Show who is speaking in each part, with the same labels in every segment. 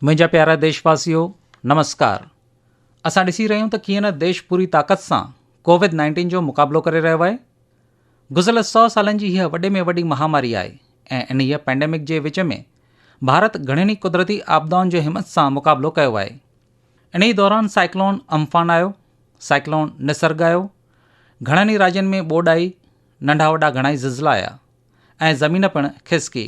Speaker 1: منهنجا پيارا ديش واسيو نمسڪار اسان ڏسي رهيون ته ڪيئن نه ديش پوري طاقت سان ڪوويد نائنٽين جو مقابلو ڪري رهيو آهي گذريل سو سالن جي هيء وڏي ۾ وڏي مهاماري آهي ۽ انهيء پينڊيمڪ جي وچ ۾ ڀارت گهڻين ئي قدرتي آپدائن جو همت سان مقابلو ڪيو آهي انهيء دوران سائيڪلون امفان آيو سائيڪلون نسرگ آيو گهڻن ئي راجين ۾ ٻوڏ آئي ننڍا وڏا گهڻائي زلزلا آيا ۽ زمين پڻ کسڪي.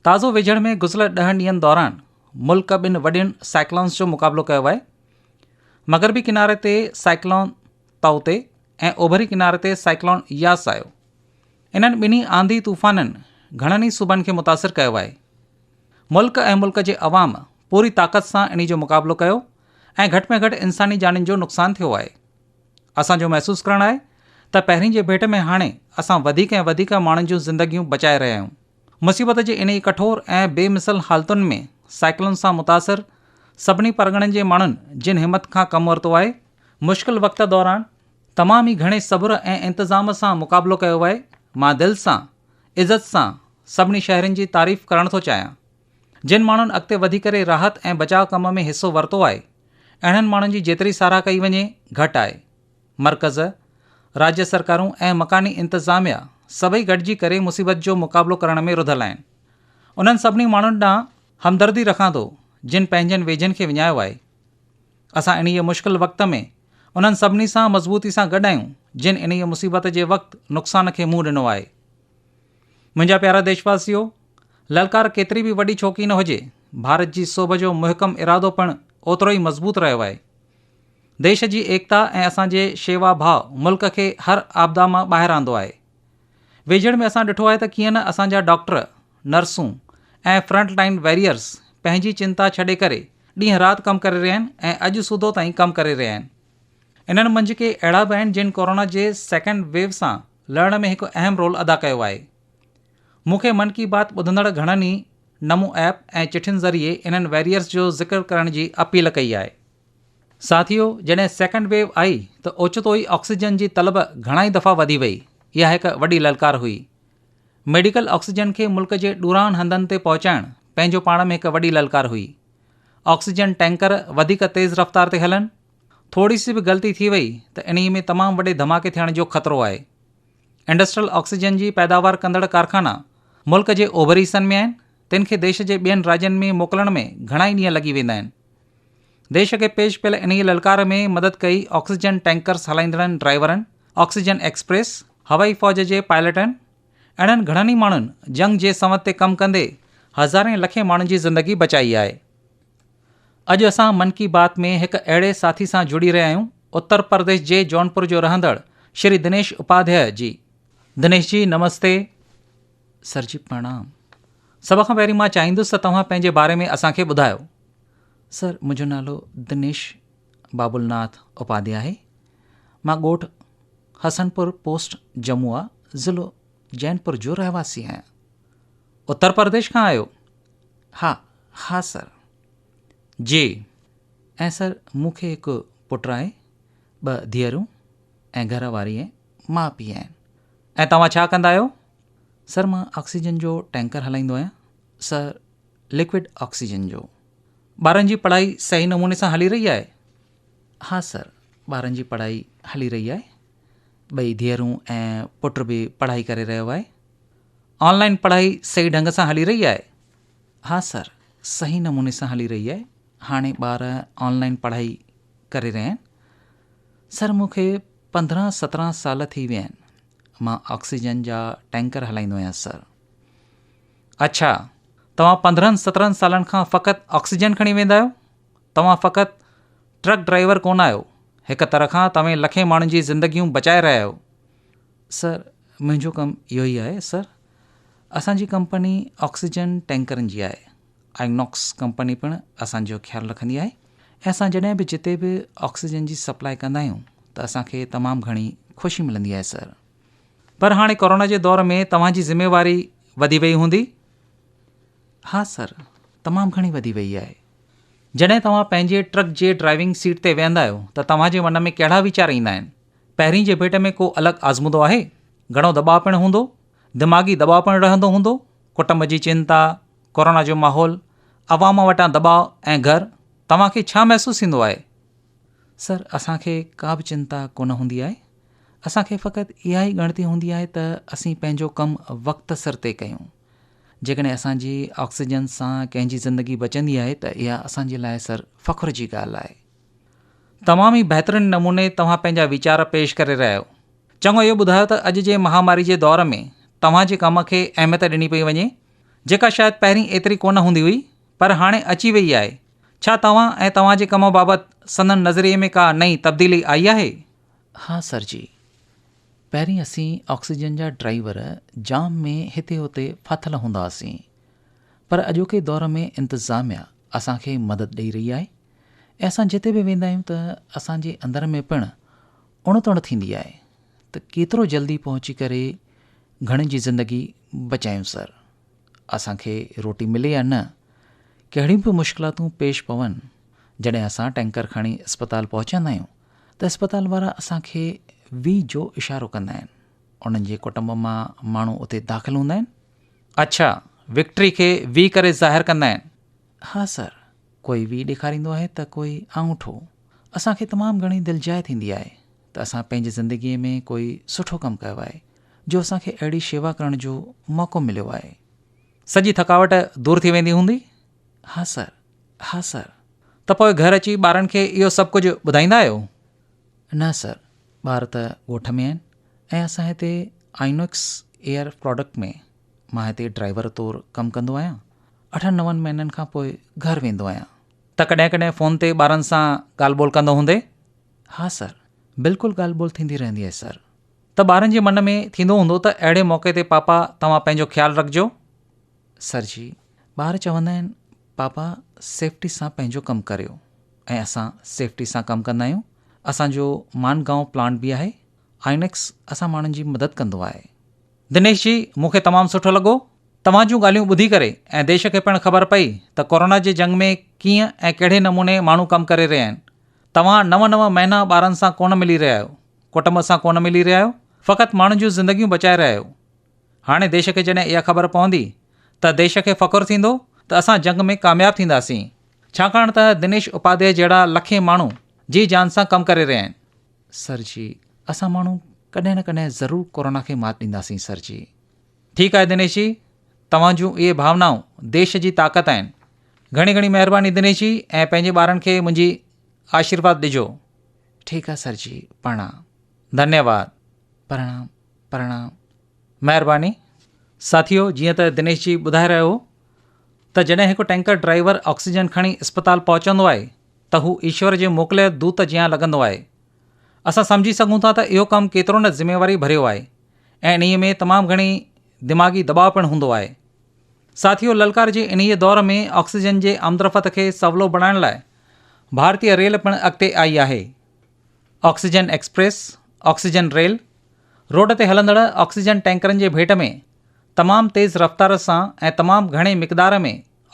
Speaker 1: تازو ويجهڙ ۾ گذريل ڏهن ڏينهن دوران ملڪ ٻن وڏين سائيڪلونز جو مقابلو ڪيو آهي. مغربي ڪناري تي سائيڪلون تائوتي ۽ اوڀري ڪناري تي سائيڪلون ياس آيو. انهن ٻنهي آنڌي طوفانن گهڻن ئي صوبن کي متاثر ڪيو آهي. ملڪ ۽ ملڪ جي عوام پوري طاقت سان انهي جو مقابلو ڪيو ۽ گهٽ ۾ گهٽ انساني جانين جو نقصان ٿيو آهي. اسان جو محسوس ڪرڻ آهي ته پهرين جي ڀيٽ ۾ هاڻي اسان وڌيڪ ۽ وڌيڪ ماڻهن جون زندگيون بچائي رهيا آهيون. مصيبت جي انهي ڪٺور ۽ بي مثل حالتن ۾ سائيڪلون سان متاثر سڀني پرڳڻن جي ماڻهن جن همت کان ڪم ورتو آهي، مشڪل وقت دوران تمام ئي گهڻي صبر ۽ انتظام سان مقابلو ڪيو آهي، مان دل سان، عزت سان سڀني شهرين جي تعريف ڪرڻ ٿو چاهيان. جن ماڻهن اڳتي وڌي ڪري راحت ۽ بچاء ڪم ۾ حصو ورتو آهي، اهڙن ماڻهن جي جيتري ساراهه ڪئي وڃي، گهٽ آهي. مرڪز، راجيه سرڪارون ۽ مڪاني انتظاميا سڀئي گڏجي ڪري مصيبت جو مقابلو ڪرڻ ۾ رڌل آهن. انهن سڀني ماڻهن ڏانهن همدردي رکان ٿو، جن پنهنجن ويجهن کي وڃايو آهي. اسان انهيء مشڪل وقت ۾ انهن سڀني سان مضبوطي سان گڏ آهيون، جن انهيء مصيبت جي وقت نقصان کي منهن ڏنو آهي. منهنجا پيارا ديشواسيو، للڪار ڪيتري به وڏي ڇو ڪي نه هجي، ڀارت جي سوڀ جو محڪم ارادو پڻ اوترو ئي مضبوط رهيو آهي. ديش جي ايڪتا ۽ اسان جي شيوا ڀاء ملڪ کي هر آپدا مان ٻاهر آندو آهي. ويجهڙ ۾ اسان ڏٺو آهي ته ڪيئن نه اسان جا ڊاڪٽر، نرسون ۽ فرنٽ لائين ويريئرز پنهنجي چنتا ڇڏي ڪري ڏينهن رات ڪم ڪري رهيا آهن ۽ اڄ سوڌو تائين ڪم ڪري رهيا آهن. انهن منجهه ڪي اهڙا به آهن جن ڪورونا جي سيڪنڊ ويو سان لهڻ ۾ هڪ اهم رول ادا ڪيو آهي. مون کي من ڪي بات ٻڌندڙ گهڻن ئي نمو ايپ ۽ چٺين ذريعي انهن ويريئرز جو ذڪر ڪرڻ جي اپيل ڪئي آهي. ساٿيو جڏهن سيڪنڊ ويو آئي ته اوچتو ئي آڪسيجن جي طلب گهڻائي دفعا وڌي وئي، اها هڪ وڏي للڪار هئي. ميڊيڪل آڪسيجن کي ملڪ جي ڏورانهن هنڌن تي پهچائڻ پنهنجو پاڻ ۾ هڪ وڏي للڪار هئي. آڪسيجن ٽينڪر وڌيڪ تيز رفتار تي هلن، ٿوري سي به غلطي ٿي وئي ته انهيء ۾ تمام وڏي ڌماڪي ٿيڻ جو خطرو آهي. انڊسٽريل آڪسيجن جي پيداوار ڪندڙ ڪارخانا ملڪ جي اوڀري حصن ۾ آهن، تن کي ديش جي ٻين راڄن ۾ موڪلڻ ۾ گهڻا ئي ڏينهن لڳي ويندا آهن. ديش کي پيش پيل انهيء للڪار ۾ مدد ڪئي آڪسيجن ٽينڪرز هلائيندڙن ڊرائيورن، آڪسيجن ايڪسپريس، هوائي فوج جي پائلٽن، اهڙن گهڻن ئي ماڻهن جنگ جي سنوت تي ڪم ڪندي هزارين لکين ماڻهن جي زندگي بچائي آهي. اڄ اسان من ڪي بات ۾ هڪ اهڙي ساٿي سان جڙي رهيا آهيون اتر پرديش جي جونپور جو رهندڙ شري دنيش اپاڌياء جي. دنيش جي نمستي. سر جي پرڻام. سڀ کان پهرين مان چاهيندس ته توهان پنهنجي باري ۾ اسان کي ٻڌايو. سر منهنجو نالو دنيش بابل ناٿ اپاڌيا آهي. مان ڳوٺ حسن پور پوسٽ جموعا ضلعو جينپور جو رهواسي آهيان. اتر پرديش کان آهيو؟ ها، ها سر. جي، ۽ سر مون کي هڪ پٽ آهي، ٻه ڌيئرون ۽ گهر واري ۽ ماء پيء آهن. ۽ توهان ڇا ڪندا آهيو؟ سر مان آڪسيجن جو ٽينڪر هلائيندو آهيان. سر لڪوڊ آڪسيجن جو. ٻارن جي پڙهائي صحيح نموني سان هلي رهي آهي؟ ها سر ٻارن جي پڙهائي هلي رهي آهي. ٻئي ڌيئرون ۽ پٽ به پڙهائي ڪري رهيو آهي آن لائن پڙهائي صحيح ڍنگ سان هلي رهي آهي ها سر صحيح نموني سان هلي رهي آهي هاڻي ٻار آن لائن پڙهائي ڪري رهيا آهن سر مون کي پندرهن سترهن سال ٿي ويا آهن مان آڪسيجن جا ٽينڪر هلائيندو آهيان سر اڇا توهان پندرهن سترهن سالن کان فقط آڪسيجن کڻي ويندا آهيو توهان فقط ٽرڪ ڊرائيور ڪونه آهيو، هڪ طرح کان توهين لکين ماڻهن جي زندگيون بچائي رهيا آهيو. سر، منهنجو ڪم اهو ئي آهي. سر، اسان جي ڪمپني آڪسيجن ٽينڪرن جي آهي. آئينوڪس ڪمپني پڻ اسان جو خيال رکندي آهي ۽ اسان جڏهن به جتي به آڪسيجن جي سپلاء ڪندا آهيون ته اسان کي تمام گهڻي خوشي ملندي آهي سر. پر هاڻي ڪورونا جي دور ۾ توهان جي ذميواري وڌي وئي هوندي؟ ها سر، تمام گهڻي وڌي وئي آهي. جڏهن توهان پنهنجي ٽرڪ جي ڊرائيونگ سيٽ تي ويهندا آهيو ته توهان جي من ۾ ڪهڙا ويچار ايندا آهن؟ پهرين جي ڀيٽ ۾ ڪو الڳ آزمودو آهي؟ گهڻو دٻاء پڻ هوندو؟ دماغي دٻاء پڻ رهندو هوندو؟ ڪٽنب جي چنتا، ڪورونا جو ماحول، عوام وٽان دٻاء ۽ گهر، توهان کي ڇا محسوس ٿيندو آهي؟ سر، اسان کي ڪا به چنتا ڪونه هوندي آهي. اسان کي فقط اها ئي ڳڻتي هوندي آهي ته اسين پنهنجو ڪم وقت سر طئي ڪيون. جيڪڏهن اسان جي آڪسيجن سان ڪنهن جي زندگي بچندي آهي ته اها اسان جي لاء سر فخر جي ڳالهه آهي. تمام ئي بهترين نموني توهان پنهنجا ويچار پيش ڪري رهيا آهيو. چڱو اهو ٻڌايو ته اڄ جي مهاماري جي دور ۾ توهان جي ڪم کي اهميت ڏني پئي وڃي جيڪا شايد پهرين ايتري ڪونه هوندي هئي پر هاڻي اچي ويئي آهي. ڇا توهان ۽ توهان جي ڪم بابت سندن نظريي ۾ ڪا نئين تبديلي آئي آهي؟ ها سر جي. پهرين اسين آڪسيجن جا ڊرائيور جام ۾ هتي هتي ڦاٿل هوندا هئاسين پر اڄوڪي دور ۾ انتظاميا اسان کي مدد ڏئي رهي آهي ۽ اسان جتي به ويندا آهيون ته اسان جي اندر ۾ پڻ اڻ تڻ ٿيندي آهي ته ڪيترو جلدي پهچي ڪري گهڻين جي زندگي بچايون سر اسان کي روٽي ملي يا نه ڪهڙيون به مشڪلاتون پيش پون جڏهن اسان ٽينڪر کڻي اسپتال پهچندا آهيون ته اسپتال وارا اسان کي وي جو اشارو ڪندا آهن. انهن جي ڪٽنب مان ماڻهو اتي داخل هوندا آهن. اڇا، وڪٽري کي وي ڪري ظاهر ڪندا آهن؟ ها سر، ڪوئي وي ڏيکاريندو آهي ته ڪوئي آڱوٺو. اسان کي تمام گهڻي دلجاء ٿيندي آهي ته اسان پنهنجي زندگيء ۾ ڪوئي سٺو ڪم ڪيو آهي جو اسان کي اهڙي شيوا ڪرڻ جو موقعو مليو آهي. سڄي ٿڪاوٽ دور ٿي ويندي هوندي؟ ها سر، ها سر. ته پوء گهر اچي ٻارن کي اهو سڀ ڪجهه ٻڌائيندا آهيو؟ نه سر، ٻار ته ڳوٺ ۾ آهن ۽ اسان هتي آئينوڪس ايئر پراڊڪٽ ۾ مان هتي ڊرائيور طور ڪم ڪندو آهيان. اٺن نون مهينن کان پوء گهر ويندو آهيان. ته ڪڏهن ڪڏهن فون تي ٻارن سان ڳالهه ٻولهه ڪندو هوندين؟ ها سر، بلڪل ڳالهه ٻولهه ٿيندي رهندي آهي سر. ته ٻارن جي من ۾ ٿيندو هوندو ته اهڙي موقعي تي پاپا توهان پنهنجو خيال رکجو؟ سر جي، ٻار چوندا آهن پاپا سيفٽي سان پنهنجو ڪم ڪريو ۽ اسان سيفٽي سان ڪم ڪندا آهيون. اسان جو مانڊگائون پلانٽ به آهي. آئينڪس اسان ماڻهن جي مدد ڪندو آهي. دنيش جي، مون کي تمام سٺو لڳو توهان جون ڳالهيون ٻڌي ڪري ۽ ديش کي پڻ خبر پئي ته ڪورونا جي جنگ ۾ ڪيئن ۽ ڪهڙي نموني ماڻهو ڪم ڪري رهيا آهن. توهان نو نو مهينا ٻارن سان ڪونه ملي رهيا آهيو، ڪٽنب سان ڪونه ملي رهيا آهيو، فقط ماڻهن جون زندگيون بچائي رهيا آهيو. هاڻي ديش کي جڏهن اها خبر پوندي ته ديش کي فخر ٿيندو ته اسان جنگ ۾ ڪامياب ٿينداسين، ڇاڪاڻ ته دنيش اپاڌياء جهڙا لکين ماڻهو جي جان سان ڪم ڪري رهيا آهن. سر جي، اسان ماڻهو ڪڏهن نه ڪڏهن ضرور ڪورونا کي مات ڏينداسين سر جي. ٺيڪ آهي دنيش جي، توهان جون اهي ڀاونائون ديش جي طاقت آهن. گهڻي گهڻي مهرباني دنيش جي ۽ پنهنجي ٻارن کي منهنجي آشيرواد ڏجو. ٺيڪ آهي سر جي، پرڻام. ڌنيواد. پرڻام. پرڻام. مهرباني ساٿيو جيئن ته دنيش جي ٻڌائي رهيو هو ته جڏهن هڪ ٽينڪر ڊرائيور آڪسيجن کڻي اسپتال پهچندو آهي ته هو ايشور جي موڪليل دوت جيان لڳندو آهي. اسان سمجهي سگهون ٿا ته اهو ڪم ڪيترو نه ذميواري ڀريو آهي ۽ انهيء ۾ تمام گهڻي دماغي دٻاء پڻ هوندو آهي. ساٿيو للڪار جي انهيء دور ۾ آڪسيجن جي آمدرفت کي سولو بڻائڻ لاء ڀارتي ريل پڻ اڳتي آئي آهي. Oxygen express, oxygen rail, road تي هلندڙ آڪسيجن ٽينڪرن جي ڀيٽ ۾ تمام تيز رفتار سان ۽ تمام گهڻي مقدار ۾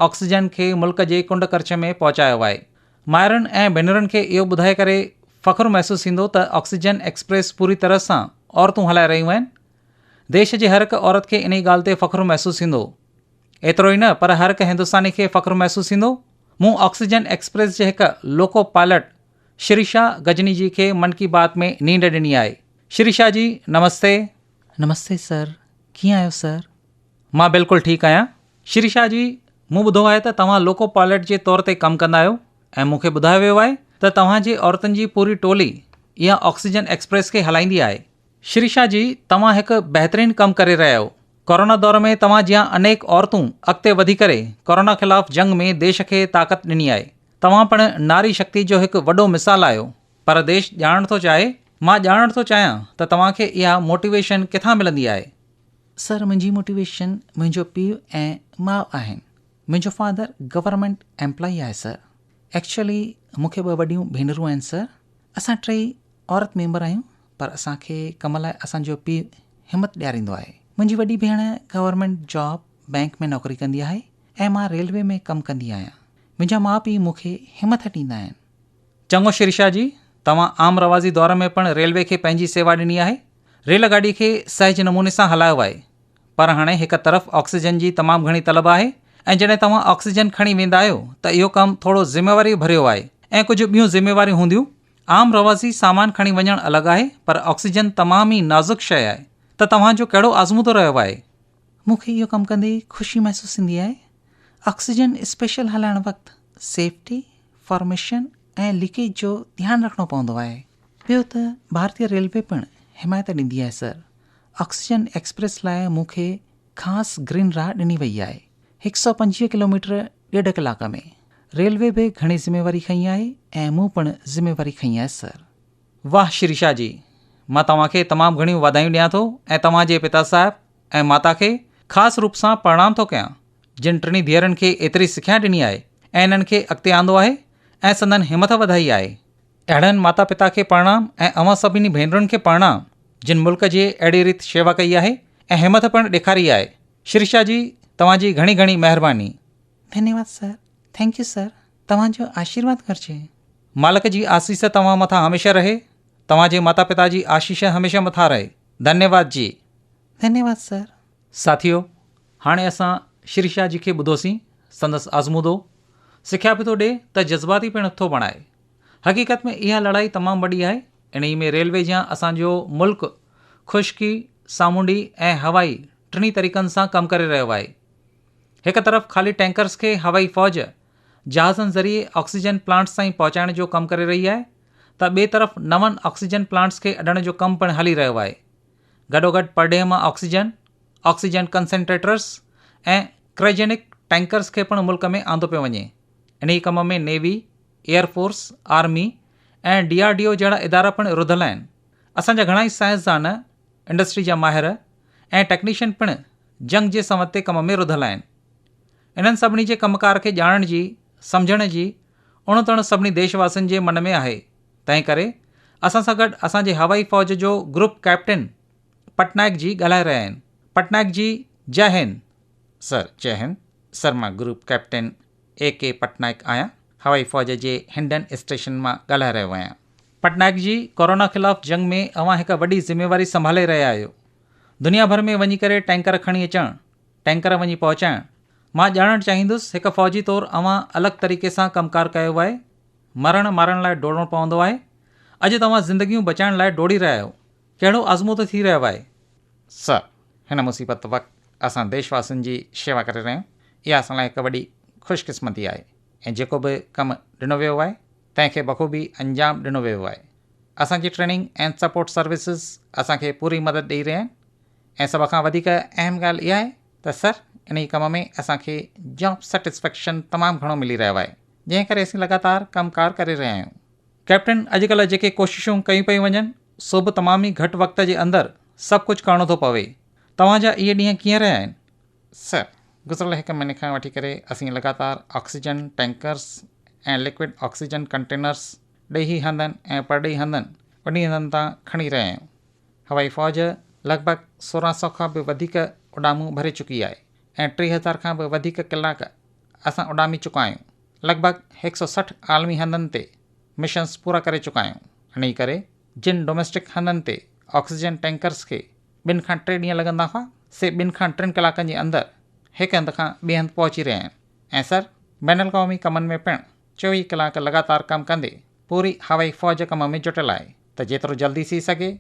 Speaker 1: آڪسيجن کي ملڪ جي ڪنڊ ڪرڇ ۾ پهچايو آهي. مائرن ۽ ڀينرن کي اهو ٻڌائي ڪري فخر محسوس ٿيندو ته آڪسيجن ايڪسپريس پوري طرح سان عورتون هلائي رهيون آهن. ديش جي هرهڪ عورت کي انهي ڳالهه تي فخر محسوس ٿيندو. ايترو ئي نه پر هرهڪ هندستاني کي فخر محسوس ٿيندو مون آڪسيجن ايڪسپريس جي هڪ لوڪو پائلٽ شري شاھ غزني جي کي من ڪي بات ۾ نينڊ ڏني آھي شري شاھ جي نمستي. نمستي سر ڪيئن آھيو سر. مان بلڪل ٺيڪ آھيان شري شاھ جي مون ٻڌو آھي ته توھان لوڪو پائلٽ جي طور تي ڪم ڪندا آھيو ۽ مون کي ٻڌايو ويو آھي ته توھان جي عورتن جي پوري ٽولي اھا آڪسيجن ايڪسپريس کي ھلائيندي آھي. شري شاھ جي توھان ھڪ بهترين ڪم ڪري رھيا آھيو ڪورونا دور ۾ توھان جيان انيڪ عورتون اڳتي وڌي ڪري ڪورونا خلاف جنگ ۾ ديش کي طاقت ڏني آھي توهان پڻ ناري شڪتي جو هڪ وڏو مثال آهيو پر ديش ڄاڻڻ ٿو چاهي مان ڄاڻڻ ٿو چاهيان ته توهان کي اها موٽيويشن ڪٿان ملندي آهي. سر منهنجي موٽيويشن منهنجو پيء ۽ ماء آهن منهنجو فادر گورنمينٽ ايمپلائي آهي سر ايڪچوئلي مون کي ٻه وڏيون ڀينرون آهن سر اسان ٽيئي عورت ميمبر آهيون پر اسان کي ڪم لاء اسان جو پيء همت ڏياريندو آهي منهنجي وڏي ڀيڻ گورنمينٽ جاب بينڪ ۾ نوڪري ڪندي آهي ۽ مان ريلوي ۾ ڪم ڪندي آهيان منهنجا ماء پيء مون کي همٿ ڏيندا آهن. چڱو شريشا جي، توهان عام روازي دور ۾ پڻ ريلوي کي پنهنجي سيوا ڏني آهي. ريل گاڏي کي سهج نموني سان هلايو آهي. پر هاڻي هڪ طرف آڪسيجن جي تمام گهڻي طلب آهي ۽ جڏهن توهان آڪسيجن کڻي ويندا آهيو ته اهو ڪم ٿورو ذميواريء ڀريو آهي ۽ ڪجهه ٻيون ذميواريون هونديون. عام روازي سامان کڻي وڃڻ الڳ آهي پر آڪسيجن تمام ئي نازڪ شيء آهي ته توهان جو ڪهڙو آزمودو رهيو آهي؟ مون کي اهو ڪم ڪندي خوشي محسوس ٿيندي آهي. آڪسيجن اسپيشل هلائڻ وقت سيفٽي، فارميشن ۽ ليڪيج جو ڌيان رکڻو پوندو آهي. ٻيو ته ڀارتي ريلوي پڻ حمايت ڏيندي آهي سر. آڪسيجن ايڪسپريس لاء مون کي خاص گرين راهه ڏني وئي آهي. هڪ سؤ پنجويهه ڪلوميٽر ڏيڍ ڪلاڪ ۾. ريلوي به گهڻي ذميواري کنئي آهي ۽ مون پڻ ذميواري کنئي آهي سر. واھ شريشا جي مان توهان کي تمام گهڻيون واڌايون ڏيان ٿو ۽ توهان جي پتا صاحب ۽ ماتا کي خاص روپ سان پرڻام ٿو ڪيان جن ٽنهي ڌيئرن کي ايتري سکيا ڏني آهي ۽ انهن کي اڳتي آندو آهي ۽ سندن همٿ وڌائي آهي اهڙن ماتا پتا کي پرڻام ۽ اوهان سڀني ڀينرن کي پرڻام جن ملڪ جي اهڙي ريت شيوا ڪئي آهي ۽ همٿ پڻ ڏيکاري آهي شريشا جي توهان جي گهڻي گهڻي مهرباني. ڌنيواد سر ٿينڪ يو سر. توهان جو آشيرواد گهرجي. مالڪ جي آسيس توهان مٿان هميشه رهي. توهان جي ماتا پتا جي آشيش هميشه مٿان رهي. ڌنيواد جي. ڌنيواد سر. ساٿيو هاڻي اسان شريشا جي کي ٻڌوسين سندس آزمودو سکيا به ٿو ڏي ته جذباتي پڻ ٿو بڻائي حقيقت ۾ اها لڙائي تمام وڏي آهي انهي ۾ ريلوي جيان اسان جو ملڪ خشڪي سامونڊي ۽ هوائي ٽنهي طريقن سان ڪم ڪري رهيو آهي هڪ طرف خالي ٽينڪرس کي هوائي فوج جهازن ذريعي آڪسيجن پلانٽس تائين پهچائڻ جو ڪم ڪري رهي آهي ته ٻئي طرف نون آڪسيجن پلانٽس کي اڏڻ جو ڪم پڻ هلي رهيو آهي. گڏوگڏ پرڏيهه مان oxygen, oxygen concentrators ۽ cryogenic tankers کي پڻ ملڪ ۾ آندو پيو وڃي. انهي ڪم ۾ navy, air force, army ۽ D R D O جهڙا ادارا پڻ رڌل آهن. اسان جا گهڻائي سائنسدان، انڊسٽري جا ماهر ۽ ٽيڪنيشن پڻ جنگ جي سنوتي ڪم ۾ رڌل آهن. انهن سڀني جي ڪم ڪار کي ڄاڻڻ جي، سمجهڻ جي اڻ تڻ سڀني ديش واسين جي من ۾ آهي. تنهن ڪري اسان سان گڏ اسان جي هوائي فوج جو گروپ ڪئپٽن پٽنائڪ جي ڳالهائي رهيا آهن. پٽنائڪ جي جئه هند. سر، جئه هند. سر مان group captain A K Patnaik آهيان. هوائي فوج جي هنڊن اسٽيشن مان ڳالهائي رهيو آهيان. پٽنائڪ جي، ڪورونا خلاف جنگ ۾ اوهان هڪ وڏي ذميواري سنڀالي رهيا آهيو. دنيا ڀر ۾ وڃي ڪري ٽينڪر کڻي اچڻ، ٽينڪر وڃي پهچائڻ. مان ڄاڻڻ چاهيندس هڪ فوجي طور اوهان الڳ طريقي سان ڪم ڪار ڪيو آهي. مرڻ مارڻ لاء ڊوڙڻو پوندو آهي. اڄ توهان زندگيون بچائڻ لاء ڊوڙي رهيا آهيو. ڪهڙو آزمودو ٿي رهيو آهي. سر، هن مصيبت وقت اسان ديش واسين جي شيوا ڪري رهيا آهيون. اها اسان لاء هڪ وڏي خوش قسمتي آهي ۽ جيڪو به ڪم ڏنو ويو آهي تنهن کي بخوبي انجام ڏنو ويو آهي. اسان جي ٽريننگ اينڊ سپورٽ سروسز اسان کي پوري مدد ڏئي رهيا آهن. ۽ سڀ کان وڌيڪ اهم ڳالهه اها آهي ته سر انهي ڪم ۾ اسان کي جاب سيٽسفيڪشن تمام گهڻو ملي رهيو آهي جنهن ڪري اسين لڳاتار ڪم ڪار ڪري رهيا آهيون. ڪئپٽن اڄ ڪلهه جيڪي ڪوششون ڪيون پيون وڃن سو به تمام ئي گهٽ وقت جي اندر سڀ ڪجهه ڪرڻو ٿو پوي توهان جا اهي ڏينهن ڪيئن رهيا آهن؟ سر گذريل هڪ مهيني کان وٺي ڪري اسين لڳاتار oxygen tankers ۽ liquid oxygen containers ڏيهي هنڌن ۽ پرڏيهي هنڌن وڏي هنڌن تان کڻي رهيا آهيون. هوائي فوج لڳ ڀڳ سورهن سؤ کان به وڌيڪ اڏامون ڀري چڪي آهي ۽ ٽي هزار کان به وڌيڪ ڪلاڪ اسان اڏامي چڪا آهيون. لڳ ڀڳ هڪ سؤ سٺ عالمي هنڌن تي مشنز پورا ڪري چڪا آهيون. انهيء ڪري جن ڊوميسٽڪ هنڌن تي آڪسيجن ٽينڪرز کي ٻن کان ٽي ڏينهن لڳندا هئا، سي ٻن کان ٽن ڪلاڪن جي اندر هڪ هنڌ کان ٻئي هنڌ پهچي رهيا آهن ۽ سر بين الاقوامي ڪمن ۾ پڻ چوويهه ڪلاڪ لڳاتار ڪم ڪندي پوري هوائي فوج ڪم ۾ جٽيل آهي ته جيترو جلدي ٿي سگهي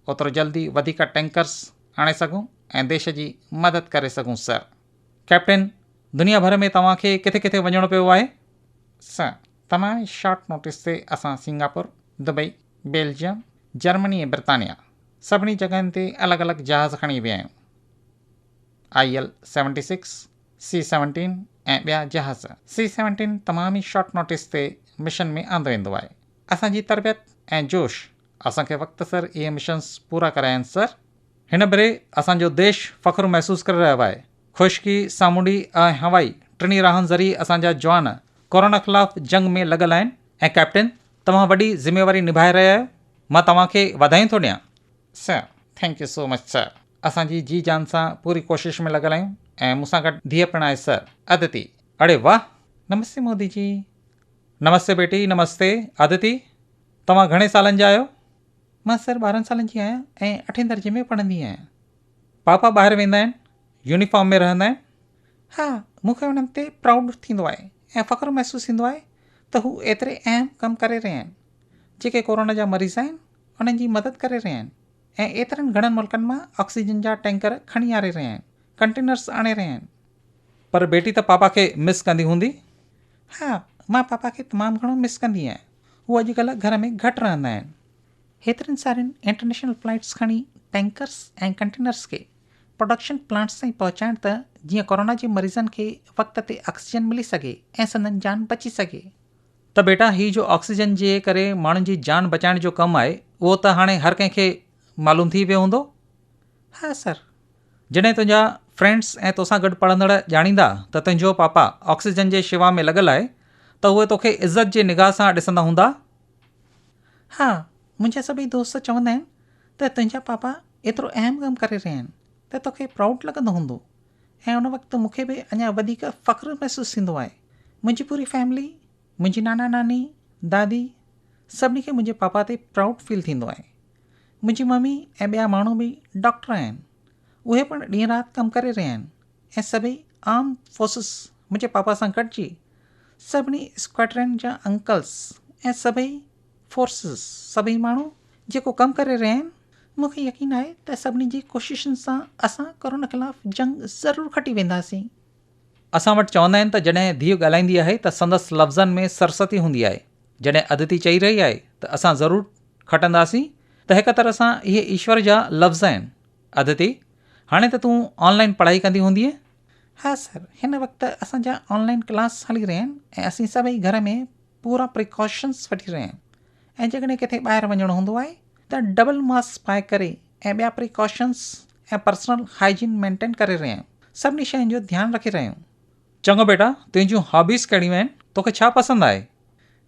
Speaker 1: اوترو جلدي وڌيڪ ٽينڪرز آڻي سگهون ۽ ديش جي مدد ڪري سگهون سر. ڪئپٽن، دنيا ڀر ۾ توهان کي ڪٿي ڪٿي وڃڻو پيو آهي؟ سر، تمام ئي شارٽ نوٽس تي اسان سنگاپور، دبئي، بيلجيم، جرمني ۽ برطانيا سڀني جڳهين تي الڳ الڳ جهاز کڻي ويا آهيون. I L seventy six, C seventeen ۽ ٻيا جهاز سي سيونٽين تمام ئي شارٽ نوٽيس تي مشن ۾ آندو ويندو آهي اسان جي تربيت ۽ جوش اسان کي وقت سر اهي مشنس پورا ڪرايائين سر. هن ڀيري اسان جو ديش فخر محسوس ڪري رهيو آهي خشڪي، سامونڊي ۽ هوائي ٽنهي راهن ذريعي اسان جا جوان ڪورونا خلاف جنگ ۾ لڳل آهن ۽ ڪئپٽن توهان وڏي ذميواري نڀائي رهيا آهيو مان توهان کي واڌايون ٿو ڏيان sir thank you so much sir اسان جي جي جان سان پوري ڪوشش ۾ لڳل آهيون ۽ مون سان گڏ ڌيء پڻ آهي سر. ادتي، اڙي واهه. نمستي مودي جي. نمستي بيٽي نمستي. ادتي، توهان گهڻي سالن جا آهيو؟ مان سر ٻارهن سالن جي آهيان ۽ اٺين درجي ۾ پڙهندي آهيان. پاپا ٻاهر ويندا آهن؟ يونيفارم ۾ رهندا آهن؟ ها، مون کي انهن تي پرائوڊ ٿيندو آهي ۽ فخر محسوس ٿيندو آهي ته هو ايتري اهم ڪم ڪري رهيا آهن. جيڪي ڪورونا جا مريض آهن انهن جي مدد ڪري رهيا آهن. ۽ ايترن گهڻن ملڪن مان آڪسيجن جا ٽينڪر کڻي آري رهيا آهن، ڪنٽينرز آڻي رهيا آهن. پر بيٽي ته پاپا کي مس ڪندي هوندي؟ ها، مان پاپا کي تمام گهڻو مس ڪندي آهيان. هو اڄڪلهه گهر ۾ گهٽ رهندا آهن. هيترين سارين انٽرنيشنل فلائيٽس کڻي ٽينڪرز ۽ ڪنٽينرز کي پروڊڪشن پلانٽس تائين پهچائڻ ته جيئن ڪورونا جي مريضن کي وقت تي آڪسيجن ملي سگهي ۽ سندن جان بچي سگهي. ته بيٽا هي جو آڪسيجن جي ڪري ماڻهن جي جان بچائڻ جو ڪم آهي اهو ته هاڻي هر ڪنهن کي معلوم ٿي ويو هوندو؟ ها سر. جڏهن تنهنجا فرينڊس ۽ توسان گڏ پڙهندڙ ڄاڻيندا ته تنهنجو پاپا آڪسيجن جي شيوا ۾ لڳل آهي ته اهي توکي عزت جي نگاهه سان ڏسندا هوندا؟ ها منهنجا سڀئي دوست چوندا آهن ته تنهنجا پاپا ايترو اهم ڪم ڪري رهيا آهن ته توکي پرائوڊ لڳندو هوندو. ۽ ان وقت مون کي به اڃا وڌيڪ فخر محسوس ٿيندو آهي منهنجي پوري فيملي منهنجي نانا ناني دادي سڀني کي منهنجي پاپا تي پرائوڊ فيل ٿيندو آهي منهنجي ممي ۽ ٻيا ماڻهو به ڊاڪٽر آهن اهي پڻ ڏينهن رات ڪم ڪري رهيا آهن ۽ سڀئي آرم فورسز منهنجي پاپا سان گڏجي سڀني اسڪواڊرن جا انڪلس ۽ سڀئي فورسز سڀئي ماڻهو جيڪو ڪم ڪري رهيا آهن مون کي يقين آهي ته سڀني جي ڪوششن سان اسان ڪورونا خلاف جنگ ضرور کٽي وينداسين. اسان وٽ چوندا آهن ته جڏهن ڌيء ڳالهائيندي آهي ته سندس لفظن ۾ سرستي هوندي آهي جڏهن ادتي چئي رهي آهي ته اسان ضرور کٽنداسين ته هڪ طرح سان اهي ايشور جا لفظ آهن ادتي هاڻي ته تون آن لائن پڙهائي ڪندي هوندينء؟ ها سر هن وقت اسان جا آن لائن ڪلاس هلي رهيا آهن ۽ اسين سڀئي گهر ۾ پورا پريڪاشنز وٺي رهيا آهيون ۽ جيڪڏهن ڪٿي ٻاهر وڃڻو هوندو آهي ته ڊبل ماسڪ پائي ڪري ۽ ٻيا پريڪاشنز ۽ پرسنل هائجين مينٽين ڪري رهيا آهيون سڀني شين جو ڌيان رکي رهيا آهيون. چڱو بيٽا تنهنجون هابيز ڪهڙيون آهن توکي ڇا پسند آهي؟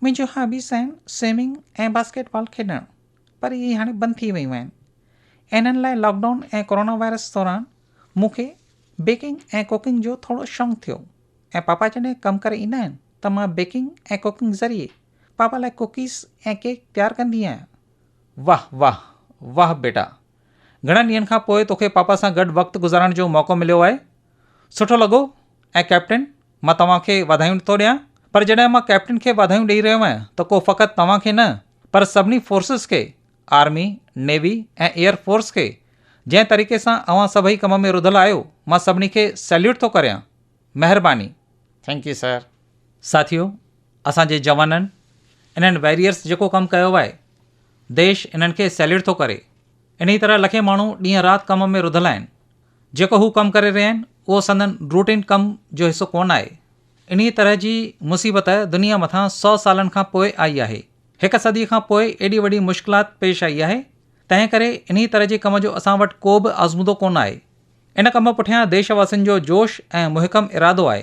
Speaker 1: منهنجون هابيز آهن سوئمنگ ۽ باسڪيٽ بال کيڏڻ پر اهي هاڻي بند ٿي ويون آهن انهن لاء لاڪ ڊائون ۽ ڪورونا وائرس دوران مون کي بيڪنگ ۽ ڪوڪنگ جو ٿورو شونق ٿيو ۽ پاپا جڏهن ڪم ڪري ايندا آهن ته مان بيڪنگ ۽ ڪوڪنگ ذريعي پاپا لاء ڪوڪيز ۽ ڪيڪ تيار ڪندي آهيان. واهه واهه واهه بيٽا گهڻن ڏينهن کان پوء توکي پاپا سان گڏ وقت گذارڻ جو موقعو مليو آهي سٺو لڳو ۽ ڪئپٽن مان توهان کي واڌايون ٿو ڏيان پر جڏهن مان ڪئپٽن کي واڌايون ڏئي رهيو آهيان ته ڪو فقط توهان کي نه پر سڀني فورسز کي آرمي نيوي ۽ ايئر فورس کي جنهن طريقي سان اوهان سڀئي ڪم ۾ رڌل آهيو مان سڀني کي سيليوٽ ٿو ڪريان مهرباني ٿينڪ يو سر. ساٿيو اسان جي جوانن انهن ويريئرس جيڪو ڪم ڪيو آهي ديش انهن کي سيليٽ ٿو ڪري انهي طرح لکين ماڻهو ڏينهن رات ڪم ۾ رڌل آهن جيڪو هو ڪم ڪري رهيا آهن اهو سندن روٽين ڪم جو حصو ڪونه آهي انهي طرح جي مصيبت دنيا مٿان سو سالن کان پوء آئي آهي هڪ صدي کان پوء ايڏي وڏي مشڪلات پيش آئي آهي تنهن ڪري انهي طرح جي ڪم جو اسان وٽ ڪو به آزمودو ڪونه آهي ان ڪم پٺيان ديش واسين جو جوش ۽ محڪم ارادو آهي.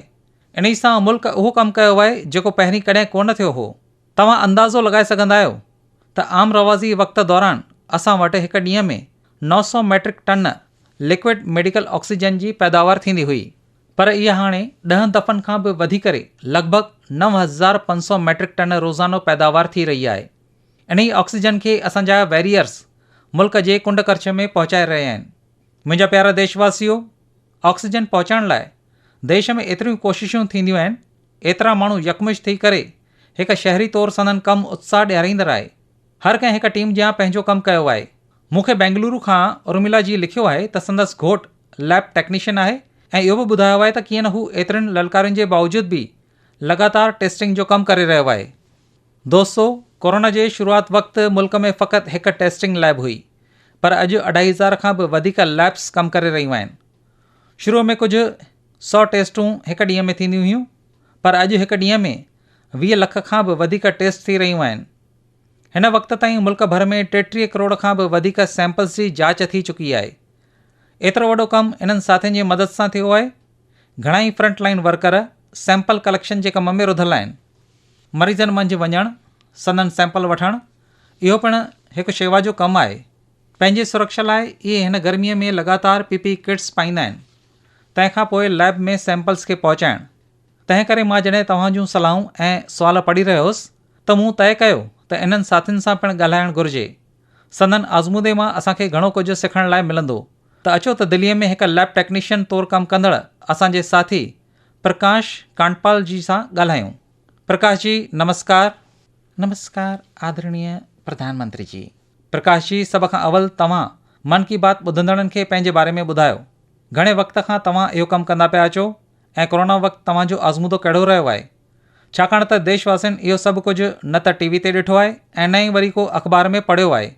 Speaker 1: انهي سان ملڪ اهو ڪم ڪيو آهي جيڪو پهرين ڪڏهن ڪونه ٿيو هو. توهان اندازو لڳائي سگهندا آهيو ته عام روازي وقت دوران اسان وٽ هڪ ڏينهن ۾ نو سؤ metric ton liquid medical oxygen جي پيداوار ٿيندي هئي، پر اها هاڻي ڏهن دفعن کان به وڌي ڪري لڳ ڀڳ نو هزار پنج سؤ ميٽرڪ ٽن روزانو پيداوار ٿي رهي آهي. انهي آڪسيجن کي اسان جا ويريئرز ملڪ جي ڪنڊ ڪرڇ ۾ پهچائي رهيا آهن. منهنجا پيارا ديش واسيو آڪسيجن پهچائڻ لاء ديش ۾ ايتريون ڪوششون ٿينديون آهن ايترا ماڻهو يڪمش ٿي ڪري هڪ شهري طور سندن ڪم اتساهه ڏياريندڙ آهي هر ڪنهن هڪ ٽيم جيان پنهنجو ڪم ڪيو آهي مون کي بينگلورو کان ارميلا جي لکيو آهي ته سندس گهوٽ ليب ٽيڪنيشن آهي ۽ اهو به ٻڌايو آهي ته ڪيئن نه هو ايترين للڪارين جي باوجود به لڳاتار ٽيسٽنگ جو ڪم ڪري رهيو آهي. دوستو ڪورونا جي شروعات وقت ملڪ ۾ فقط هڪ ٽيسٽنگ ليب هئي پر اڄ اڍائي هزار کان به وڌيڪ ليبس ڪم ڪري رهيون آهن. شروع ۾ ڪجهه سؤ ٽيسٽون هڪ ڏينهن ۾ ٿينديون هيون پر اڄ هڪ ڏينهن ۾ ويهه لک کان به وڌيڪ ٽيسٽ ٿي رهيون آهن. هن وقت تائين ملڪ ڀر ۾ ٽيٽيهه ڪروڙ کان به وڌيڪ سيمپلز جي جاچ ٿي چڪي آهي. ايترو وڏو ڪم انهن ساٿين جي مدد سان ٿيو آهي. گهڻائي front line worker sample collection جي ڪم ۾ رڌل آهن، مريضن منجهه وڃڻ، سندن سيمپل وٺڻ اهو پڻ هڪ شيوا جو ڪم آهي، پنهنجي سرڪشا لاء اهي هن گرمي ۾ لڳاتار پي پي اي ڪٽس پائيندا آهن، تنهن کان پوء ليب ۾ سيمپلز کي پهچائڻ، تنهن ڪري مان جڏهن توهان جون صلاحون ۽ سوال پڙهي رهيو هوس ته مون طئي ڪيو ته انهن ساٿين سان پڻ ڳالهائڻ گهرجي، سندن آزمودي مان اسان کي گهڻو ڪجهه سکڻ لاء ملندو. ته اچو ته دليء ۾ هڪ ليب ٽيڪنيشن طور ڪم ڪندڙ اسان جي ساٿي پرڪاش ڪانڊپال جي سان ڳالهايون. پرڪاش جي نمسڪار. نمسڪار آدرڻيء پرڌان منتري جي. پرڪاش جي سڀ کان اول توهان من ڪي بات ٻڌندڙن کي پنهنجي باري ۾ ٻڌايو. گهڻي وقت کان توهان اهو ڪم ڪندا پيا اچو ۽ ڪورونا وقت توهان جو آزمودو ڪهڙو رهيو آهي؟ ڇاڪاڻ ته ديش واسين اهو سڀ ڪجهه نه ته ٽي وي تي ڏٺو آهي ۽ نه ئي وري ڪو اخبار ۾ پڙهيو آهي.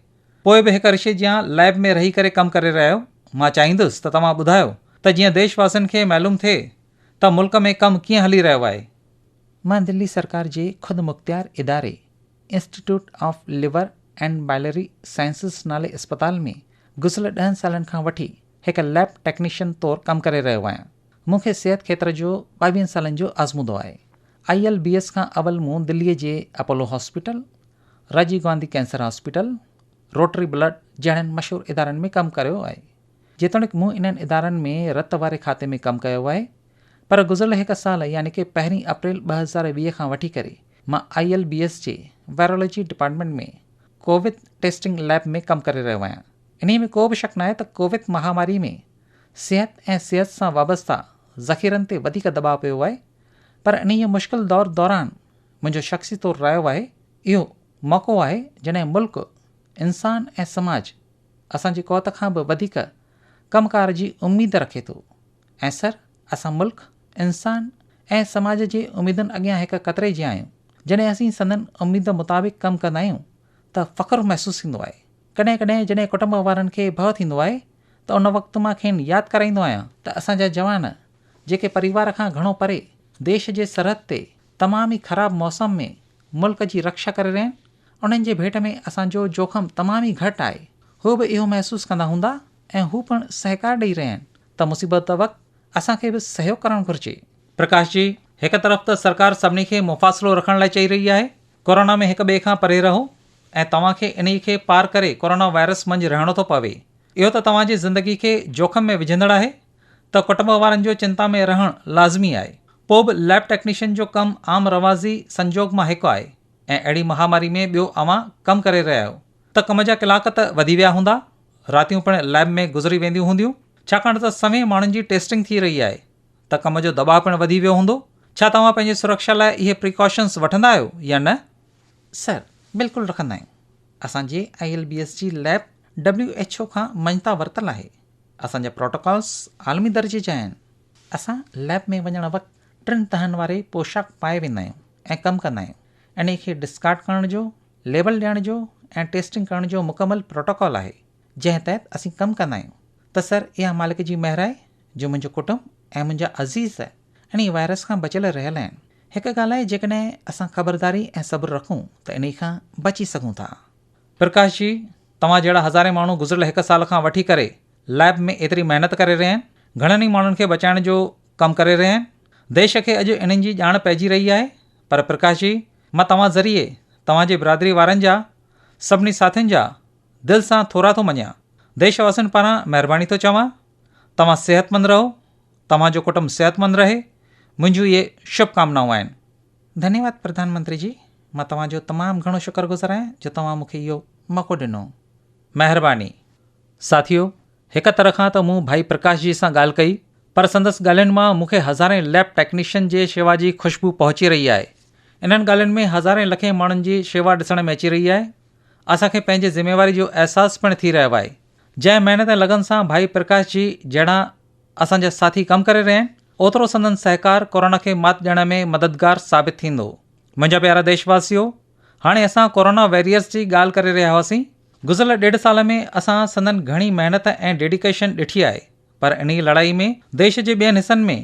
Speaker 1: پوء به هڪ رشي جيان ليب ۾ رهي ڪري ڪم ڪري رهيا آهيو، مان چاهيندس ته توهان ٻڌايو ته جيئن ديش واسين کي معلوم ٿئي ته ملڪ ۾ ڪم ڪيئن هلي رهيو آهي. مان دلي سرڪار جي خودمختيار اداري Institute of Liver and Biliary Sciences نالي اسپتال ۾ گذريل ڏهن سالن کان وٺي هڪ ليب ٽيڪنيشن طور ڪم ڪري رهيو آهيان. مون کي صحت کيتر جو ٻاويهن سالن جو آزمودو آهي. آئي ايل بي ايس کان اول مون دلي جي Apollo hospital Rajiv Gandhi cancer hospital, Rotary blood جهڙن مشهور ادارن ۾ ڪم ڪريو آهي. جيتوڻيڪ مون انهن ادارن ۾ رت واري کاتي ۾ ڪم ڪيو آهي پر گذريل هڪ سال يعني ڪي پهرين اپريل ٻه هزار ويهه کان وٺي ڪري مان آئي ايل بي ايس جي virology department ۾ Covid testing lab ۾ ڪم ڪري رهيو آهيان. انهيء ۾ ڪو به شڪ ناهي ته ڪوويد مهاماري ۾ صحت ۽ صحت سان وابسته ذخيرن تي وڌيڪ دٻاء پيو آهي پر انهيء مشڪل دور دوران منهنجو شخصي طور رايو آهي اهو موقعو آهي جڏهن ملڪ، انسان ۽ سماج اسان جي قوت کان به وڌيڪ ڪم ڪار جي اميد رکي ٿو ۽ سر اسان ملڪ، انسان ۽ سماج جي اميدن اڳيان هڪ قطري جيان آهيون، جڏهن اسين سندن اميد مطابق ڪم ڪندا آهيون ته فخر محسوس ٿيندو آهي، ڪڏهن ڪڏهن جڏهن ڪٽنب وارن کي ڀؤ ٿيندو آهي ته ان وقت مان کين ياد ڪرائيندو آهيان ته اسان جا جوان جيڪي پريوار کان گهڻو پري ديش جي سرحد تي تمام ئي خراب موسم ۾ ملڪ جي رڪشا ڪري رهيا آهن انهن جي ڀيٽ ۾ اسان جو جوکم تمام ئي گهٽ آهي هو به اهو محسوس ڪندا هوندا ۽ هو پڻ سهڪار ڏئي رهيا آهن ته مصيبت وقت اسان کي به سهيوگ ڪرڻ گهرجي. پرڪاش جي، هڪ طرف ته سرڪار سڀني کي مفاصلو رکڻ لاء چئي رهي آهي، ڪورونا ۾ هڪ ٻئي کان پري رهو ۽ توهان کي انهي کي پار ڪري ڪورونا وائرس منجهه رهڻو ٿو پوي اهو ته توهان جي زندگي کي جوکم ۾ وجهندڙ آهي، ته ڪٽنب وارن جو چنتا ۾ رهڻ لازمي آهي. پوء به ليب ٽيڪنيشن جو ڪم عام رواجي سنجوڳ مان هڪ آهي ۽ اهڙي مهاماري ۾ ٻيو اوهان ڪم ڪري رهيا آهيو ته ڪم جا ڪلاڪ ته وڌي ويا هوندا، راتيون پڻ ليب ۾ گذري وينديون هونديون ڇاڪاڻ ته سوين ماڻهن جي ٽيسٽنگ ٿي رهي آهي ته ڪم جو دٻاء پڻ وڌي ويو هوندو، ڇا توهان پنهنجي سرڪشا لاء اهي پريڪاشنز وٺندا آهيو يا نه؟ سر، بلڪل رکندا آهيون. اسان جي آء ايل بي ايس جي ليب ڊبليو ايڇ او کان مڃتا ورتل آهي، اسان جا پروٽوڪالز عالمي درجي جا آهن، اسان ليب ۾ وڃڻ وقت ٽن تهن واري پوشاڪ پائي ويندا آهيون ۽ ڪم ڪندا آهيون، انهي کي ڊسڪارڊ ڪرڻ جو، ليبل ڏيڻ جو ۽ ٽيسٽنگ ڪرڻ جو مڪمل پروٽوڪال آهي، جنهن تحت اسين ڪم ڪندا آهيون ته سر اها مالڪ جي مهر آهي جو منهنجو ڪٽنب ۽ منهنجا عزيز انهي وائرس کان بچيل رهيل آهن، هڪ ڳالهه آهي جيڪڏهن اسان خبرداري ۽ صبر رکون ته انهي کان بچي سگهون ٿا. پرڪاش جي، توهان جهڙا هزارين ماڻهو گذريل هڪ سال کان وٺي ڪري ليب ۾ ايتري محنت ڪري رهيا آهن، گهڻن ئي ماڻهن کي بچائڻ جو ڪم ڪري رهيا آهن. ديش کي اڄ انهن جي ڄاڻ پئجي رهي آهي. پر پرڪاش جي، مان توهان ذريعي توهان جي برادري وارن جا، سڀني ساٿين جا دل سان ٿورا ٿو مڃيان. ديش واسين پاران مهرباني ٿو چوان. توهان صحتمند رهو، توهان جو ڪٽنب صحتمند رهي، منهنجون اهي شڀ ڪامنائون آهن. ڌنيواد پرڌان منتري جي. مان توهان جو تمام گهڻو شڪر گذار آهيان جو توهان مون کي اهو موقعو ڏنو. مهرباني. ساٿيو، هڪ طرح کان ته مون ڀائي پرڪاش جي سان ڳالهه ڪئي پر سندس ڳالهين مان مون کي هزارين ليب ٽيڪنيشن جي شيوا جي خوشبو پهچي رهي آهي. انهن ڳالهين ۾ هزارين لکين ماڻهن جي شيوا ڏسڻ ۾ اچي رهي آهي. اسان کي پنهنجي ذميواري جو احساس پڻ ٿي رهيو آهي. جنهن محنت ۽ لگن سان ڀائي پرڪاش جي جهڙا اسان جا ساٿي ڪم ڪري رهيا آهن اوترو سندن سهڪار ڪورونا کي مات ڏيڻ ۾ مددگار ثابت ٿيندو. منهنجا پيارا ديش واسيو هاڻي اسان ڪورونا ويريئرز جي ڳالهه ڪري رهيا هئاسين گذريل ڏيڍ سال ۾ اسان سندن گهڻي محنت ۽ ڊيڊيڪيشن ڏٺي آهي پر انهي لڙائي ۾ ديش جي ٻين حصن ۾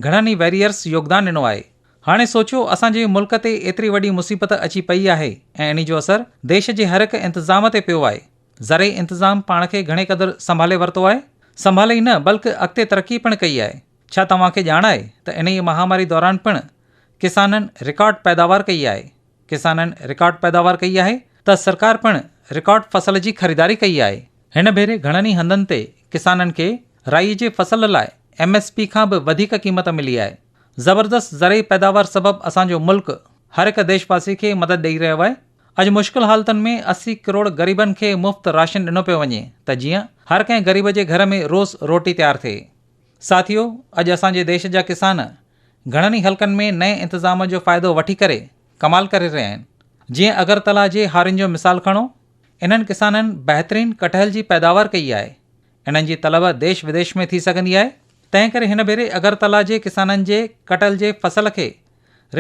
Speaker 1: گهڻن ئي ويريئرز يوگدان ڏنو آهي هاڻي سوچيو اسان جي ملڪ تي ايتري وڏي مصيبت اچي پئي آهي ۽ انهي جو اثر ديش جي هرهڪ انتظام تي پيو آهي زرعي انتظام پاڻ کي گهڻي قدر سنڀالي ورتو آهي، سنڀالي ئي نه بلڪ اڳتي ترقي پڻ ڪئي آهي، ڇا توهان کي ڄاڻ آهي ته انهيء مهاماري دوران پڻ ڪسانن رڪارڊ پيداوار ڪئي آهي، ڪسانن رڪارڊ پيداوار ڪئي آهي ته سرڪار پڻ رڪارڊ فصل جي خريداري ڪئي آهي، هن ڀيري گهڻن ئي هنڌن تي ڪسانن کي رائي جي فصل لاء ايم ايس پي کان به وڌيڪ قيمت ملي آهي، زبردست زرعي پيداوار سبب اسان جو ملڪ هر هڪ ديشواسي کي مدد ڏئي رهيو آهي. اڄ مشڪل حالتن ۾ اسي ڪروڙ غريبن کي مفت راشن ڏنو پيو وڃي ته جيئن هر ڪنهن غريب جي گهر ۾ روز روٽي تيار ٿئي. ساٿيو اڄ اسان جي ديش جا ڪسان گهڻن ئي حلقن ۾ نئين انتظام جو فائدو وٺي ڪري ڪمال ڪري رهيا آهن جيئن اگرتلا جي هارين جو مثال کڻو انهن ڪسانن بهترين ڪٽهل جي پيداوار ڪئي آهي انهن جي طلب ديش وديش ۾ ٿي سگهندي آهي تنهن ڪري هن ڀيري اگرتلا جي ڪسانن جي ڪٽهل جي فصل کي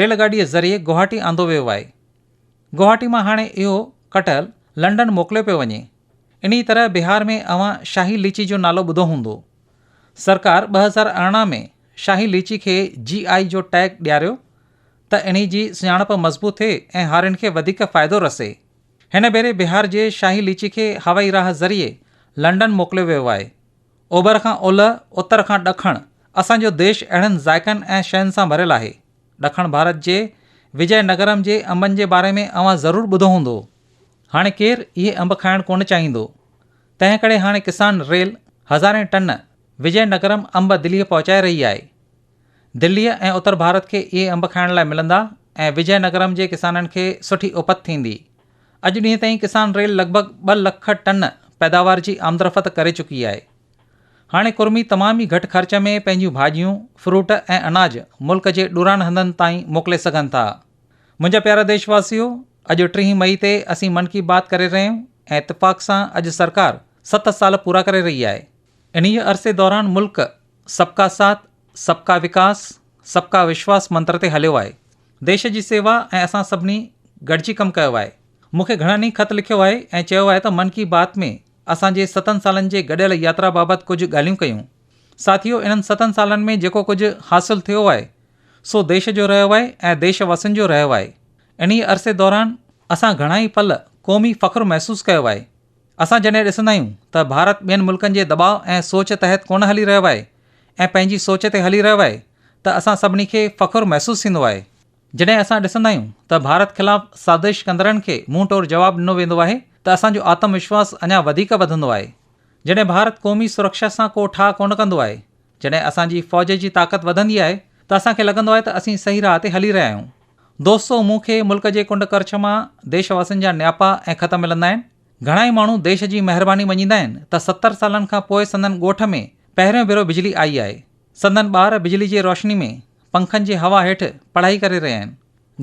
Speaker 1: ريل گاڏي ذريعي گوهاٽي آندو ويو آهي. گوهاٽي مان هاڻي اهو ڪٽهل لنڊن موڪليو پيو وڃي. انهيء طرح بهار ۾ اوهان شاهي ليچي جو نالو ٻڌو هوندو. سرڪار ٻه هزار ارڙهن ۾ شاهي ليچي کي جي آء جو ٽيگ ڏياريو ته انهيء جي سڃاڻپ مضبوط ٿئي ۽ هارين کي وڌيڪ فائدو رسي. هن ڀيري بهار جي شاهي ليچي کي هوائي راهه ذريعي لنڊن موڪليو ويو آهي. اوڀر کان اولهه، اتر کان ڏکڻ اسان جو ديش اهڙن ذائقن ۽ شين سان ڀريل آهي. ڏکڻ ڀارت جي وجئه نگرم جي انبن جي باري ۾ اوهان ضرور ٻڌو هوندو. هاڻي ڪير اهي انب کائڻ ڪونه چاهيندو. تنهن ڪري هاڻي ڪسان ريل هزارين ٽن وجئه نگرم انب دليء پهچائي رهي آهي. دليء ۽ اتر ڀارت کي اهي انب کائڻ لاء ملندا ۽ وجئه نگرم جي ڪسانن کي سٺي اپت ٿيندي. اڄ ڏينهن تائين ڪسان ريل لڳ ڀڳ ٻه لک ٽن پيداوار جي آمدرفت ڪري چڪي آهي. هاڻي ڪرمي تمام ئي گهٽ خرچ ۾ پنهنجيون ڀاڄيون، فروٽ ۽ اناج ملڪ جي ڏورانهن هنڌن تائين موڪلي سگهن ٿا. منهنجا پيارا ديش واسيو، اڄ ٽيهين مئي تي اسين من ڪي بات ڪري رهيا آهيون ۽ اتفاق سان اڄ سرڪار ست سال پورا ڪري رهي آهي. انهيء عرصي دوران ملڪ سب ڪا ساٿ، سب ڪا وڪاس، سب ڪا وشواس منتر تي هليو آهي. ديش جي سيوا ۽ اسان سڀني گڏجي ڪم ڪيو آهي. مون کي گهڻن ئي خط لکيو آهي ۽ چيو آهي ته من ڪي بات ۾ اسان جي ستن سالن جي گڏيل ياترا بابت ڪجهه ڳالهيون ڪيون. ساٿيو انهن ستن سالن ۾ جيڪو ڪجهه حاصل ٿيو آهي سو ديش جو رهيو آهي ۽ ديش واسين جو رهيو آهي. انهيء عرصي دوران اسان گهڻا ئي پل قومي فخر محسوس ڪيو آهي. اسان جڏهن ڏسندا آهيون ته ڀارت ٻين ملڪن جي دٻاء ۽ سوچ تحت ڪونه هلي رهيو آهي ۽ پنهنجي سوچ تي هلي رهيو آهي ته اسان سڀني کي فخر محسوس ٿيندو آهي. جڏهن اسان ڏسندا آهيون ته ڀارت خلاف سازش ڪندڙن کي منهن ٽور جواب ڏنو ويندو آهي ته اسان جو آتم وشواس اڃا وڌيڪ وڌندو آهي. جڏهن ڀارت قومي سرڪشا سان ڪو ٺاهه ڪونه ڪندو آهي، جڏهن اسان جي فوج جي طاقت وڌندي آهي ته اسان کي لڳندو آهي ته اسين صحيح راهه تي هلي رهيا آهيون. دوستو مون کي ملڪ جي ڪنڊ ڪرڇ مان ديش واسين جا نياپا ۽ خط ملندا آهن. گهڻا ئي ماڻهو ديش جي مهرباني مڃيندا آهن ته ستر سالن کان پوء سندن ڳوٺ ۾ پهريون ڀيرو بجلي آئي آهي. سندن ٻار بجلي جي روشني ۾، پنکن جي هوا هيٺ پڙهائي ڪري رهيا آهن.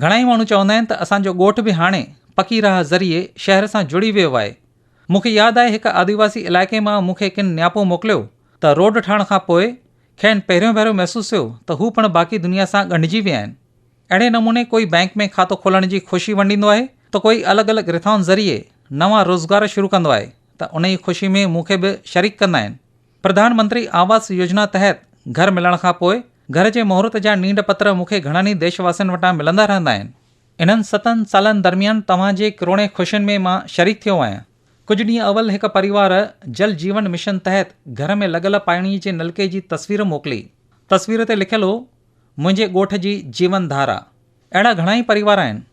Speaker 1: گهڻائي ماڻهو چوندا آهن ته اسان جو ڳوٺ به هاڻي پڪي راهه ذريعي شهر سان جڙي ويو آهي. مون کي ياد آهي هڪ آديواسي علائقي مان مون کي ڪن نياپو موڪليو ته روڊ ٺاهڻ کان پوء کين پهريون ڀيرو محسوس ٿيو ته هو پڻ باقي دنيا سان ڳنڍجي ويا آهن. اهڙي نموني ڪوئي بئنڪ ۾ کاتو کولڻ جي خوشي ونڊيندو آهي ته ڪوئي الڳ الڳ رٿائن ذريعي نوان روزگار شروع ڪندو آهي ته انهيء خوشي ۾ مون کي به شريڪ ڪندا آهن. پرڌان منتري آواس يوجنا تحت گهر ملڻ کان پوء گهر جي مهورت جا نينڊ پتر مون کي گهڻن ئي ديش واسين وٽان ملندا رهندا آهن. انهن ستن سالن درميان توهان جي ڪروڙين خوشين ۾ مان شريڪ ٿيو آهيان. ڪجهه ڏينهن اول هڪ پريوار جل جيون مشن تحت گهر ۾ لڳل پاڻي جي نلڪي جي تصوير موڪلي. تصوير تي لکيل هو، منهنجي ڳوٺ جي جيون ڌارا. اهڙا گهڻا ئي پريوار آهن،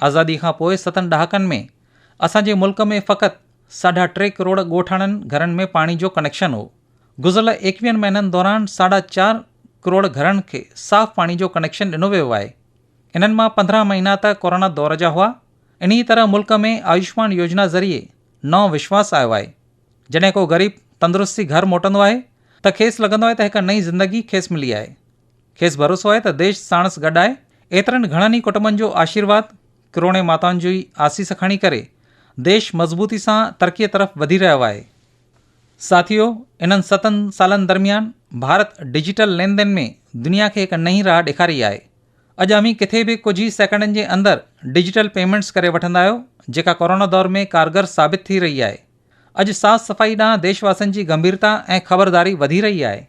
Speaker 1: آزادي کان پوء ستن ڏهاڪن ۾ اسان جي ملڪ ۾ فقط ساڍا ٽي ڪروڙ ڳوٺاڻن گهرن ۾ پاڻي جو ڪنيڪشن هو. گذريل ايڪويهن مهينن دوران ساڍا چار ڪروڙ گهرن کي صاف پاڻي جو ڪنيڪشن ڏنو ويو آهي. انهن مان پندرهن مهينا ته ڪورونا دور جا هئا. انهيء طرح ملڪ ۾ آيوشمان يوجنا ذريعي نئون وشواس آيو آهي. جڏهن ڪو غريب تندرستي گهر موٽندو آهي ته کيس لڳندو آهي ته هڪ نئين زندگي کيس ملي آهي. کيس ڀروسو آهي ته ديش ساڻس گڏ آهي، ايترن گهڻن ئي ڪٽنبن جو آشيرواد، ڪروڙين ماتائن جو ئي آسيس کڻي ڪري ديش مضبوطي سان ترقيء طرف وڌي رهيو آهي. ساٿيو، انهن ستن سالن درميان ڀارت ڊجيٽل لين دين ۾ دنيا کي هڪ نئين راهه ڏيکاري آهي. اڄ اوهين ڪٿي به ڪجهه ئي سيڪنڊن جي اندر ڊجيٽل پيمينٽس ڪري وٺندا آهيو، جيڪا ڪورونا دور ۾ ڪارگر ثابت ٿي رهي آهي. اڄ صاف صفائي ڏانهن ديش واسين جي گنڀيرتا ۽ خبرداري وڌي رهي آهي.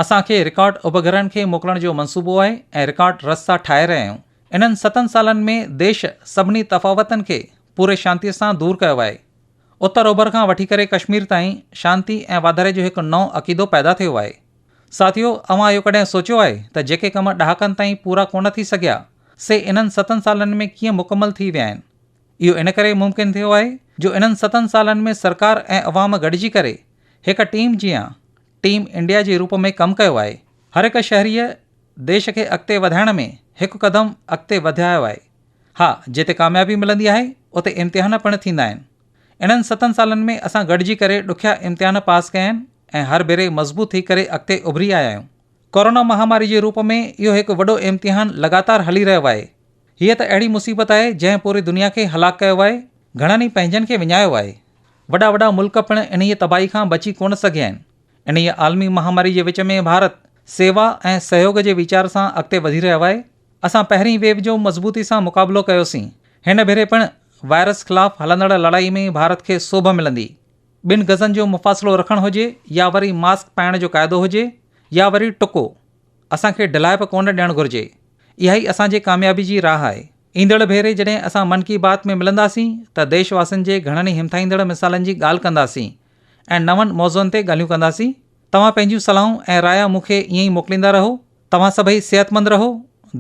Speaker 1: اسان کي رڪارڊ اپگرهن کي موڪلڻ جو منصوبو آهي ۽ رڪارڊ رستا ٺاهي رهيا آهيون. انهن ستن سالن ۾ ديش سڀني تفاوتن کي پوري شانتيء سان دور ڪيو آهي. اتر اوڀر کان وٺي ڪري ڪشمير تائين شانتي ۽ واڌاري جو هڪ نئون عقيدو پيدا ٿيو آهي. ساٿيو، اوهان اهو ڪڏهن سوچيو آهي ته جيڪي ڪم ڏهاڪن تائين پورا ڪونه ٿي سگهيا، سي انهن ستن سالن ۾ ڪيئن مڪمل ٿي ويا آهن؟ اهو ان ڪري ممڪن ٿيو آهي جو انهن ستن سالن ۾ سرڪار ۽ عوام گڏجي ڪري هڪ ٽيم جيان ٽيم انڊيا جي روپ ۾ ڪم ڪيو آهي. هر هڪ شهريء ديش کي اڳتي وڌائڻ ۾ هڪ قدم اڳتي وڌايو آهي. ها جتي ڪاميابي ملندي آهي اتي امتحان پڻ ٿيندا آهن. انهن ستن سالن ۾ اسان گڏجي ڪري ڏکيا امتحان پاس ڪيا آهن ۽ هر ڀيري مضبوط ٿي ڪري اڳتي اڀري آيا آهيون. ڪورونا مهاماري جي روپ ۾ اهو هڪ وڏو امتحان لڳاتار هلي رهيو آهي. هيء ته اهڙي مصيبت آهي جنهن پوري دنيا کي هلاڪ ڪيو آهي، گهڻن ئي پنهنجن کي وڃايو آهي. وڏا وڏا ملڪ پڻ انهيء تباهي کان بچي ڪونه سگهيا آهن. انهيء عالمي مهاماري جي وچ ۾ ڀارت سيوا ۽ سهيوڳ جي ويچار سان اڳتي وڌي رهيو آهي. اسان پهرين ويو جو مضبوطي سان مقابلو ڪيوسين. هن ڀيري پڻ وائرس خلاف هلندڙ لڙائي ۾ ڀارت کي سوڀ ملندي. ٻن گزن جو مفاصلو رکڻ هجي يا وري ماسڪ پائڻ جو قاعدو هجي يا وري ٽڪو، اسان کي ڍلائپ ڪونه ڏيڻ گهرجي. اها ئي اسان جي ڪاميابي جي راهه آهي. ايندڙ ڀيري جڏهن اسان من ڪي بات ۾ ملنداسين ته ديش واسين جي گهڻن ئي همٿائيندڙ مثالن جي ڳالهه ڪنداسين ۽ نون موضوعن تي ڳالهيون ڪنداسين. توهان پنهنجيون صلاحون ۽ رايا مون کي ائين ئي موڪليندا رهو. توهان سڀئي صحتمند رهو.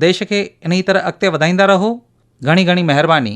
Speaker 1: ديش کي انهي طرح اڳتي وڌائيندا رهو. گهڻي گهڻي مهرباني.